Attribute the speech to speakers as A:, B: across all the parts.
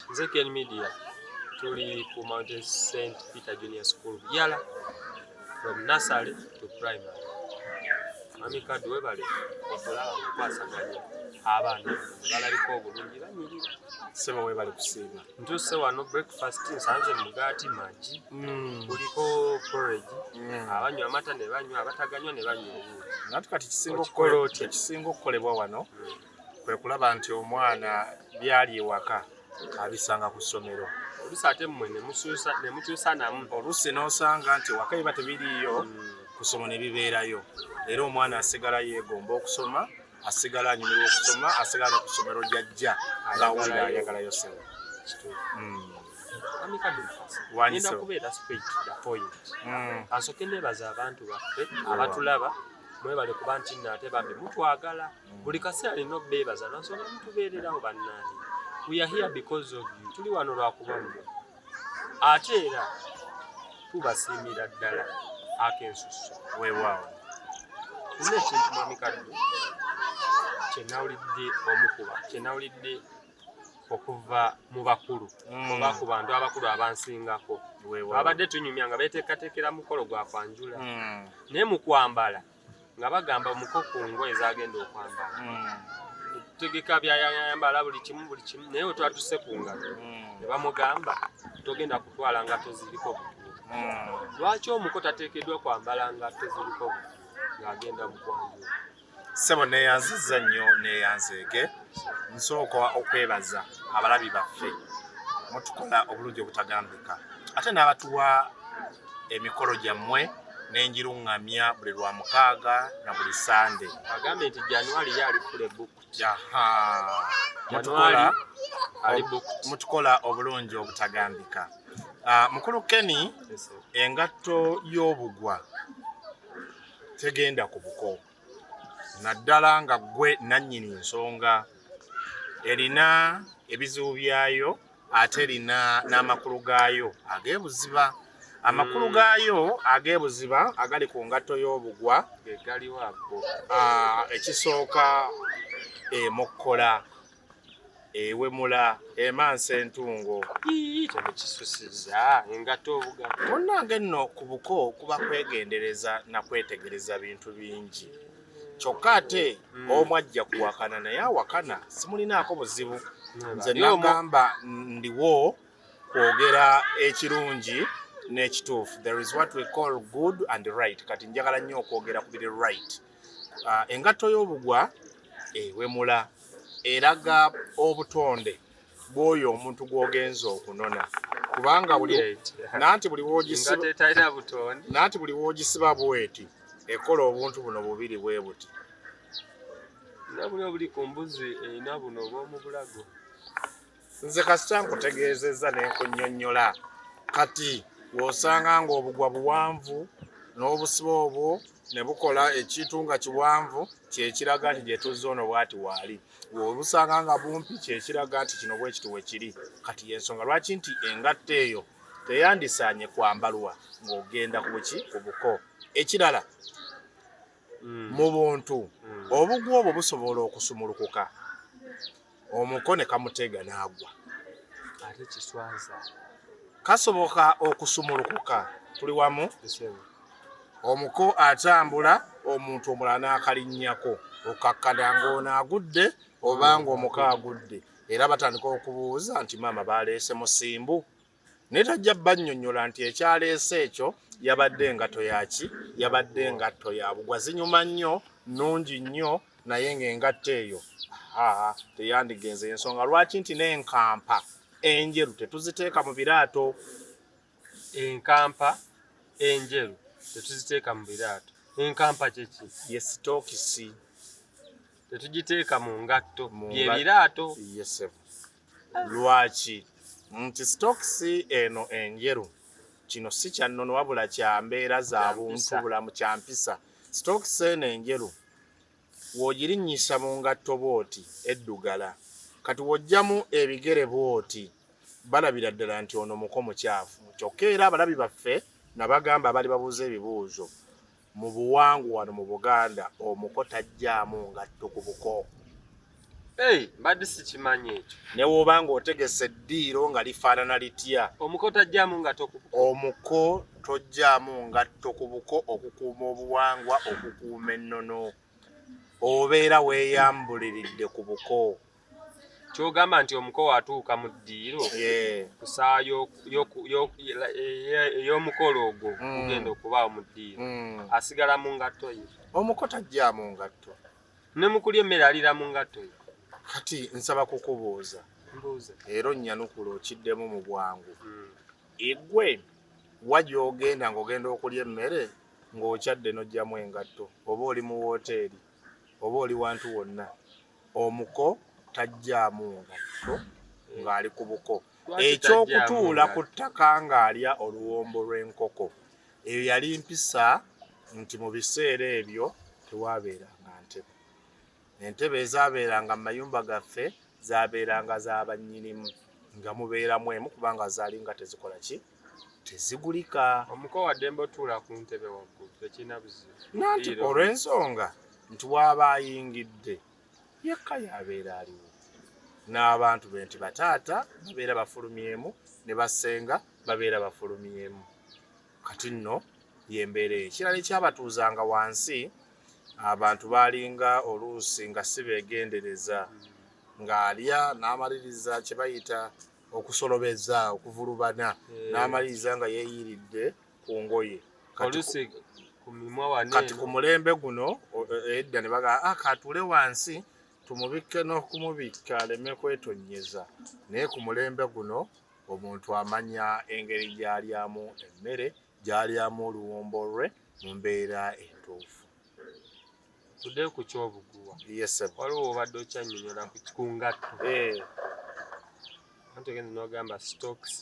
A: Nze Ken Media tuli ku Mountain St Peter Junior School Yala from nursery to primary. Mami Kadu webale okulaba mukwasaganya abaana balabika obulungi banyirira. Sebo webale
B: kusiima. Ntuuse wano
A: breakfast nsanze mugaati magi mm. kuliko porridge mm. abanywa amata ne banywa abataganywa ne banywa obuugi. Natu kati kisinga
B: okukolebwa wano mm. kwe kulaba nti omwana byali ewaka abisanga ku ssomero olusi ate mmwe
A: nemukyusa namu olusi n'osanga
B: nti ewaka biba tebiriiyo hmm. kusoma ne bibeerayo era omwana asigala yeegomba okusoma asigala anyumirwa okusoma asigala ne ku ssomero gyajja ng'awulira ayagalayo sebo
A: ngenda kubeera straight the point mm. asooke nebaza abantu baffe abatulaba mwebale kuba nti nno ate bambi mutwagala buli kaseera alina obeebaza lwansonga mutubeererawo bannaani we are here because of you tuli wano lwakuba mmwe ate era tubasiimira ddala akensusu weewaawo
B: nina
A: ekintu mwami kaddu kyenawulidde omukuba kyenawulidde okuva mu bakulu mm. oba ku bantu abakulu abansingako abadde tunyumya nga beteekateekera mukolo gwa kwanjula mm. naye mu kwambala nga bagamba muko ku ngoye zagenda okwambala tegeka byayayambala buli kimu buli kimu naye wetwatuse ku ngalo ne bamugamba togenda kutwala ngato ziriko lwaki omuko tateekeddwa kwambala ngato ziriko ng'agenda mu kwanjula ssebo
B: neyanziza nnyo neyanzeege nsooka okwebaza abalabi baffe mutukola obulungi obutagambika ate n'abatuwa emikolo gyammwe nenjiruŋŋamya buli lwa mukaaga na buli sande agambye nti januari
A: ye ali fule
B: mutukola obulungi obutagambika ah, mukulu keni engatto y'obugwa tegenda ku buko naddala nga ggwe nannyini nsonga erina ebizibu byayo ate erina n'amakulu gaayo ag'ebuziba amakulu mm. gaayo ag'ebuziba agali ku ngatto y'obugwa ah, ekisooka emokkola ewemula emansa entungo
A: kyekisusiza engato obuga munnange nno ku
B: buko kuba kwegendereza na kwetegereza bintu bingi kyokka ate hmm. omu ajja kuwakana naye awakana simulinaako buzibu nze nagamba ndiwo kwogera ekirungi n'ekituufu there is what we call good and right kati njagala nnyo okwogera ku biri right ah, engatto y'obugwa ewemula eraga obutonde bwoyo omuntu gwogenza okunona kubanga buli nanti buli wogisiba nanti buli wogisiba bweti ekola obuntu buno bubiri bwe buti nabuli
A: obuli ku mbuzi erina buno obwomu bulago
B: nze kasita nkutegeezezza ne nkunyonnyola kati w'osanga ng'obugwa buwanvu n'obusiba obwo ne bukola ekintu nga kiwanvu kyekiraga nti gye tuzza ono bwati waali obusanga nga bumpi kyekiraga nti kino bwekiti wekiri kati yensonga lwaki nti engatta eyo teyandisaanye kwambalwa ng'ogenda ku buki ku buko ekirala mm. mu buntu mm. obugu obwo busobola okusumulukuka omuko ne kamuteega n'agwa ate
A: kiswaza kasoboka
B: okusumulukuka tuli wamu omuko atambula omuntu omulala n'akalinnyako okakkana ng'ono agudde oba ng'omuko agudde era batandika okubuuza nti maama baleese musimbu naye tajja bannyonnyola nti ekyaleese ekyo yabadde engatto yaki yabadde engatto ya bugwa zinyuma nnyo nnungi nnyo naye ng'engatto eyo aa teyandigenze ensonga lwaki nti n'enkampa enjeru tetuziteeka mu biraato
A: enkampa enjeru tetuziteeka mu biraato enkampa kyeki yesitokisi tetugiteeka mu ngatto byebiraato yesebo
B: lwaki nti sitokisi eno enjeru kino si kyannono wabula kya mbeera za buntu bulamu kya mpisa sitokisi eno enjeru W'ogirinnyisa mu ngatto bw'oti eddugala, kati w'oggyamu ebigere bw'oti, balabira ddala nti ono muko mucaafu. Kyokka era abalabi baffe nabagamba abaali babuuza ebibuuzo, mu buwangwa wano mu Buganda omuko taggyaamu ngatto ku buko. Hey,
A: mbadde sikimanyi ekyo. Ne woba nga otegese
B: ddiiro nga lifaanana litya. Omuko tajjaamu ngatto
A: ku buko. Omuko
B: tojjaamu ngatto ku buko okukuuma obuwangwa, okukuuma ennono. Obeera weeyambuliridde ku buko. Ky'ogamba
A: nti omuko watuuka mu ddiiro ku ssaawa ey'omukolo ogwo mm. ogenda okubaawo mu ddiiro mm. asigala mu ngatto ye. Omuko tajjaamu
B: ngatto. ne mukulya
A: emmere alira mu ngatto ye kati nsaba
B: kukubuuza era
A: onnyanukula
B: okiddemu mu bwangu hmm. egwe wa gy'ogenda ng'ogenda okulya emmere ng'okyadde n'oggyamu engatto oba oli mu wooteeri oba oli wantu wonna omuko tajjaamu ngatto ng'ali ku buko ekyokutuula ku ttaka ng'alya oluwombo lw'enkoko eyo yali mpisa nti mu biseera ebyo tewaabeeranga ntebe entebe ezaabeeranga mu mayumba gaffe zaabeeranga za bannyinimu nga mubeeramu emu kubanga zaali nga tezikola ki tezigulika omuko waddembe
A: otuula ku ntebe waggulu tekirina buzibu nanti
B: olw'ensonga nti waaba ayingidde yekka yaabeera aliwo n'abantu be nti bataata babeera bafulumyemu ne basenga babeera bafulumyemu kati nno yembeera ekirala ekyabatuuzanga wansi abantu baalinga oluusi nga si beegendereza ng'alya n'amaliriza kye bayita okusolobeza okuvulubana eh. n'amaliriza nga yeeyiridde ku ngoye
A: kati ku mulembe guno
B: eh, edda ne bagaa ah, katuule wansi tumubikke n'okumubikka aleme kwetonnyeza naye ku mulembe guno omuntu amanya engeri gy'alyamu emmere gy'alyamu oluwombo lwe mu mbeera entuufu
A: tudde ku kyobuguwa waliwo
B: obadde
A: okyanyonyola ku ngatto eh. anti ogenza nogamba stokes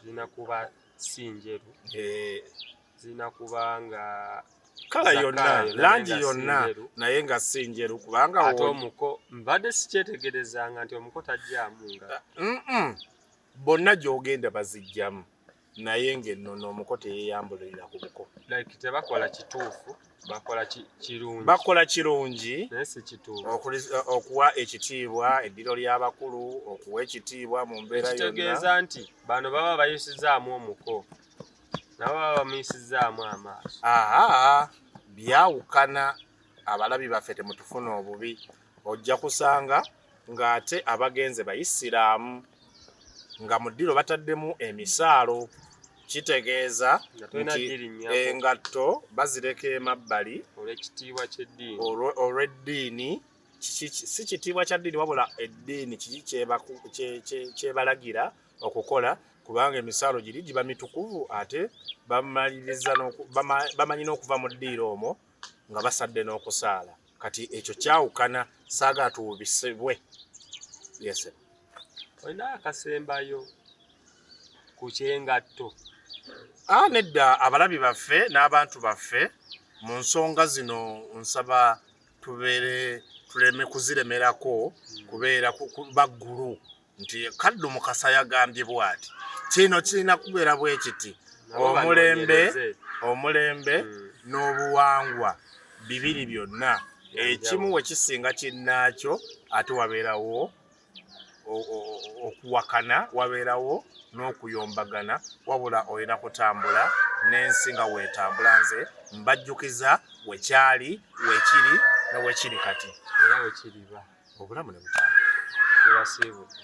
A: zirina kuba si njeru eh. zirina kuba nga kala
B: yonna langi yonna naye nga si njeru kubanga ate omuko
A: mbadde sikyetegerezanga nti omuko tajjamu nga bonna
B: gyogenda bazijjamu naye ng'enno n'omuko teyeyambulirira ku buko like tebakola
A: kituufu bakola kirungi bakola kirungi
B: naye si kituufu
A: okuwa
B: ekitiibwa eddiro ly'abakulu okuwa ekitiibwa mu mbeera yonna ekitegeeza nti bano
A: baba bayisizaamu omuko nabo baba bamuyisizzaamu amaaso aa byawukana abalabi baffe temutufuna obubi ojja kusanga ng'ate abagenze bayisiraamu nga mu ddiro bataddemu emisaalo kitegeeza engatto bazireka emabbali olwekitiibwa kyeddiini olw'eddiini si kitiibwa kya ddiini wabula eddiini kiki kyebalagira okukola kubanga emisaalo giri giba mitukuvu ate bamaliriza bamanyi n'okuva mu ddiiro omwo nga basadde n'okusaala kati ekyo kyawukana saaga tuwubisibwe yese olina akasembayo ku kyengatto a ah,
B: nedda abalabi baffe n'abantu baffe mu nsonga zino nsaba tubeere tuleme kuziremerako kubeera baggulu nti kaddu mukasa yagambye bwati kino kirina kubeera bwe kiti omulembe omulembe hmm. n'obuwangwa bibiri byonna ekimu we kisinga kinnaakyo ate wabeerawo okuwakana wabeerawo n'okuyombagana wabula olina kutambula n'ensi nga weetambula nze mbajjukiza wekyali wekiri newekiri kati
A: era
B: wekiriba obulamu ne butambula tebasiibudde